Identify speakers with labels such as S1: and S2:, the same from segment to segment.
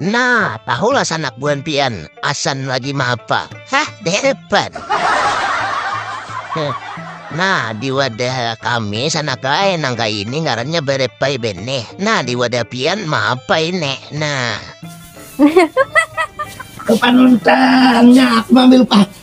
S1: Nah, tahulah sanak buhan pian, asan lagi maapa. Hah, depan. nah, di wadah kami sanak lae nang kaya ini ngarannya berepai beneh. Nah, di wadah pian maapa ini. Nah.
S2: Kepanuntangnya aku ambil pak.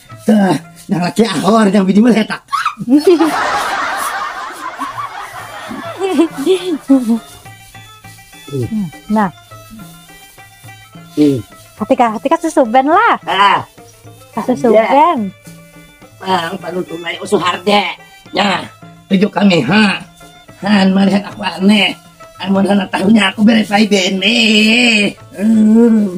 S2: Tah, nang laki ahor, nang bini meletak.
S3: nah. Hmm. Hati kah, hati kah susuben lah. Ah. Susuben. Bang,
S2: baru tunai usuharde. Ya, tujuh kami ha. Han melihat aku aneh. Amun sana tahunya aku beres lagi bene. Hmm.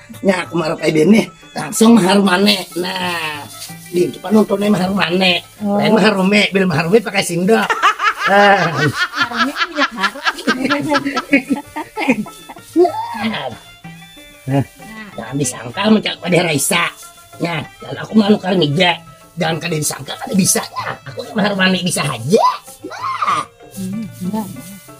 S2: Nya aku marap ai bini langsung mahar mane. Nah, bini tu panuntun mahar mane. Oh. Lain mahar rumi, bila mahar rumi pakai sindok.
S4: Rumi kan minyak harum.
S2: Nah, jangan disangka mencak pada Raisa. Nah, lalu aku malu kali mija. Jangan kada disangka kada bisa ya. Aku mahar mane bisa aja. Nah. Hmm,